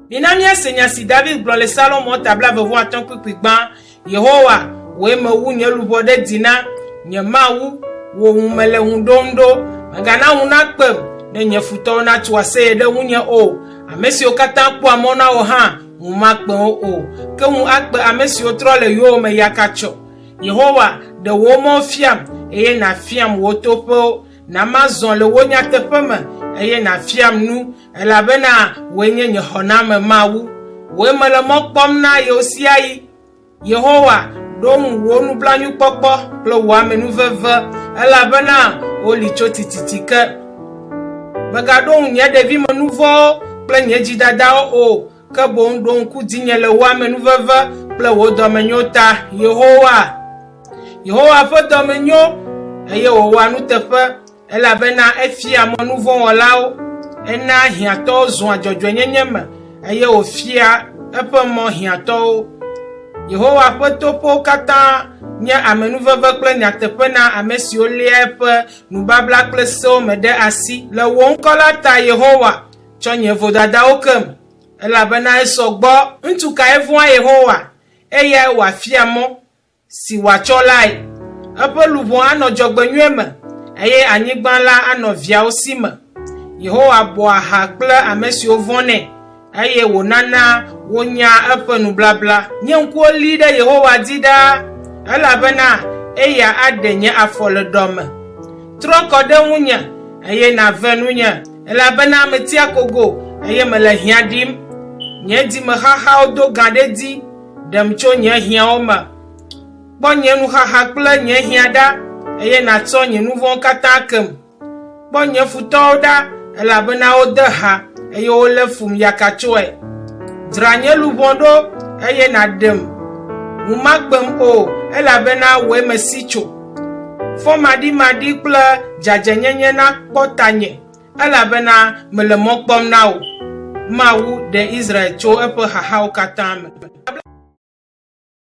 Mina míase nya si David gblɔ le Salomo ta blaeve-vɔ atɔ̃ kpukpui gbã, Yehowa, wòe mewu nye luʋɔ ɖe dzi na, nye Mawu, wò ŋu mele ŋu ɖom ɖo. Mègana ŋu nakpem, ne nye futɔwo natso aseye ɖe ŋunye o. Ame siwo katã kpɔa mɔ na wò hã, ŋu makpe wo o, ke ŋu akpe ame siwo trɔ le yowòme yakatsyɔ. Yehowa, ɖe wò mɔwo fiam, eye nàfiam wò toƒewo. Na mazɔ le wò nyateƒe me, eye nàfiam nu, elabena wòe nye nye xɔname Mawu. Wòe mele mɔ kpɔm na ɣesiaɣi. Yehowa, ɖo ŋu wò nublanuikpɔkpɔ kple wò amenuveve, elabena woli tso tititi ke. Mègaɖo ŋu nye ɖevime nu vɔ̃wo kple nye dzidadawo o. ke boŋ ɖo ŋku dzinye le wò amenuveve kple wò dɔmenyo ta, Yehowa. Yehowa ƒe dɔmenyo, eye wòwɔa nuteƒe, elabena efia mɔ nu vɔ̃ wɔlawo, ena hiãtɔwo zua dzɔdzɔenyenye me, eye wòfia eƒe mɔ hiãtɔwo. Yehowa ƒe toƒewo katã nye amenuveve kple nyateƒe na ame siwo léa eƒe nubabla kple sewo me ɖe asi. Le wò ŋkɔ la ta, Yehowa, Tsɔ nye vodadawo kem, elabena esɔ gbɔ. Ŋutsu kae vɔ̃a Yehowa, eyae wòafia mɔ si wòatsɔ lae? Eƒe luʋɔ anɔ dzɔgbenyui me, eye anyigba la anɔ viawo si me. Yehowa bɔa ha kple ame siwo vɔ̃nɛ, eye wònana wonyaa eƒe nubabla. Nye ŋkuwo li ɖe Yehowa dzi ɖaa, elabena eya aɖe nye afɔ le ɖɔ me. Trɔ kɔ ɖe ŋunye, eye nàve nunye. Elabena meti akogo, eye mele hiã ɖim, Nye dzimexaxawo do gã ɖe edzi. Ɖem tso nye hiãwo me, Kpɔ nye nuxaxa kple nye hiã ɖa, Eye nàtsɔ nye nu vɔ̃wo katã kem. Kpɔ nye futɔwo ɖa, elabena wode ha, Eye wolé fum yakatsɔe. Dzra nye luʋɔ ɖo, eye nàɖem, Ŋu makpem o, elabena wòe mesi tso. Fɔmaɖimaɖi kple dzadzɛnyenye nakpɔ tanye, elabena mele mɔ kpɔm na wò. Mawu ɖe Israel tso eƒe xaxawo katã me.